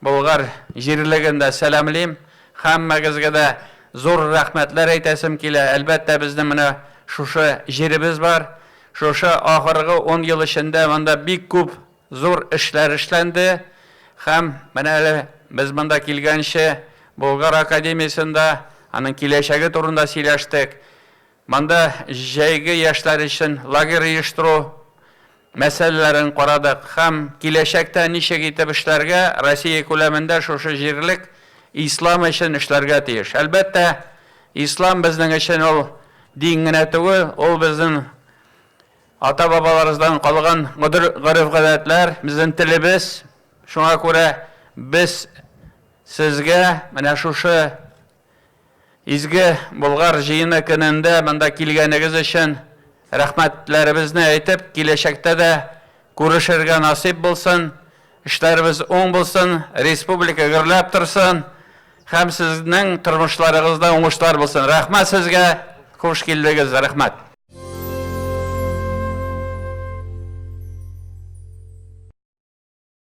Болгар җирлеген дә сәламлим. Һәммәгезгә дә зур рәхмәтләр әйтәсем килә. Әлбәттә, безнең менә шушы җиребез бар. Шушы ахыргы ун ел эчендә монда бик күп зур эшләр эшләнде. Һәм менә әле без монда килгәнче Болгар академиясендә аның киләчәге турында сөйләштек. Монда җәйге яшьләр өчен лагерь оештыру мәсьәләләрен карадык һәм киләчәктә ничек итеп эшләргә, Россия күләмендә шушы җирлек ислам өчен эшләргә тиеш. Әлбәттә, ислам безнең өчен ул дин генә түгел, ул безнең ата-бабаларыбыздан калган гореф-гадәтләр, безнең телебез. Шуңа күрә без сезгә менә шушы Изге Болгар җыены көнендә монда килгәнегез өчен рәхмәтләребезне әйтеп, киләчәктә дә күрешергә насыйп булсын, эшләребез уң булсын, республика гөрләп торсын һәм сезнең тормышларыгызда уңышлар булсын. Рәхмәт сезгә, хуш килдегез, рәхмәт.